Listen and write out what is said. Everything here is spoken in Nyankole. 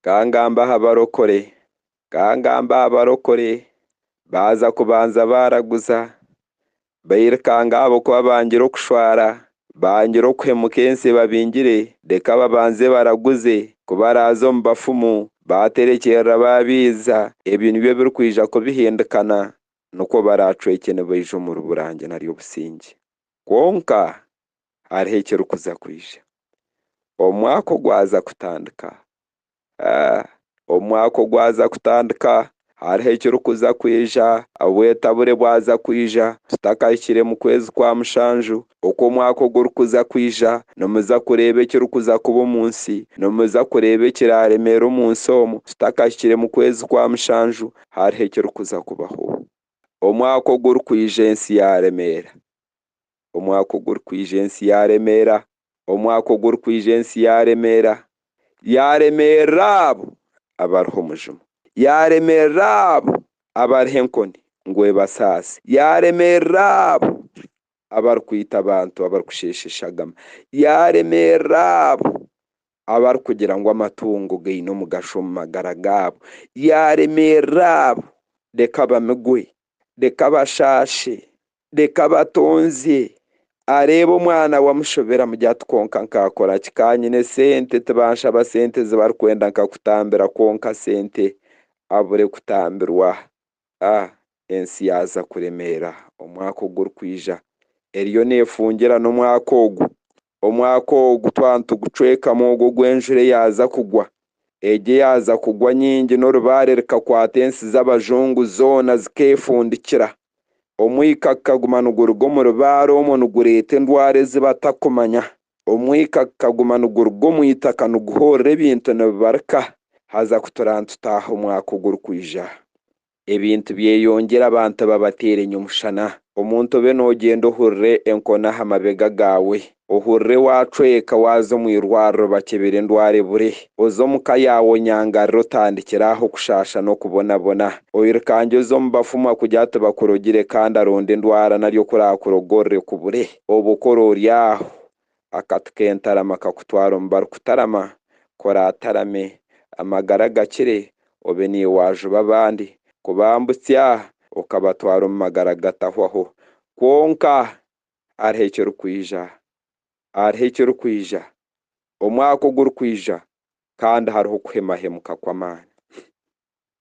Ka ngambe aha barokore. Ka ngambe aha barokore baaza kubanza baaraguza, bairukanga ahabw'okuba bangire okushwara, bangire okuhemuka ensi ebabingire, reka babanze baraguze, ku baraaza omu bafumu baaterekyerera baabiiza, ebi nibyo ebirikwija kubihindukana, nikwo baraacwekye nibaija omu rubura nge nari obusingye. Kwonka hariho ekirikuza kwija. Omwaka ogwaza kutandika, omwaka ogwaza kutandika hariho ekirikuza kwija. Obwetabure bwaza kwija tutakahikire mu kwezi kwa mushanju, oku omwaka ogurikuza kwija, nimuza kureeba ekirikuza kuba omu nsi. Nimuza kureeba ekiraaremeera omu nsi omu tutakahikire mu kwezi kwa mushanju. Hariho ekirikuza kubaho. Omwaka ogurikwija ensi yaaremeera, omwaka ogurikwija ensi yaaremeera, omwaka ogurikwija ensi yaaremeera, yaaremeerera abo abariho omujuma, yaaremeerera abo abariho enkoni ngu ebasaase, yaaremeerera abo abarikwita abantu abarikusheesha eshagama, yaaremeerera abo abarikugira ngu amatungo gaine omugasho omu magara gaabo, yaaremeerera abo, reka bamigwe, reka bashaashe, Reka batonzye. Areeba omwana we amushoberamu gye ati kwonka nkakora ki ka nyine sente tibanshaba sente zibarikwenda nkakutambira kwonka sente abure kutambirwa a ensi yaaza kuremeera omwaka ogurikwija eriyo nefungira n'omwaka ogu. Omwaka ogu twaba nitugucwekamu ogwo ogu enjura eyaaza kugwa. Egyo eyaaza kugwa nyingi n'orubaare rikakwata ensi z'abajungu zoona zikeefundikira. Omwika gukaguma niguruga omu rubaare omwo nigureeta endwara ezi batakumanya. Omwika gukaguma niguruga omu itaka niguhoorera ebintu nibibarika haza kuturaa nitutaaha omwaka ogurikwija. Ebintu byeyongyera abantu babateerenye omushana. Omuntu obe noogyenda ohurire enkoni aha mabega gaawe. Ohurire waacweka waaza omu irwariro bakyebere endwara ebure. Oze omu ka yaawe onyangarire otandikire aho kushaasha n'okubonabona. Oirukangye oze omu bafumwa kugira tibakurogire kandi aronde endwara nari okuraakurogorere kubure. Obu okora ori aho, Akatu k'entarama kakutwara omu barikutarama, kora atarame, amagara gakire, obe niiwe waajuba abandi, kubambutsya okabatwara omu magara gatahwaho. Kwonka hariho ekirikwija, hariho ekirikwija, omwaka ogurikwija, kandi hariho okuhemahemuka kw'amaani.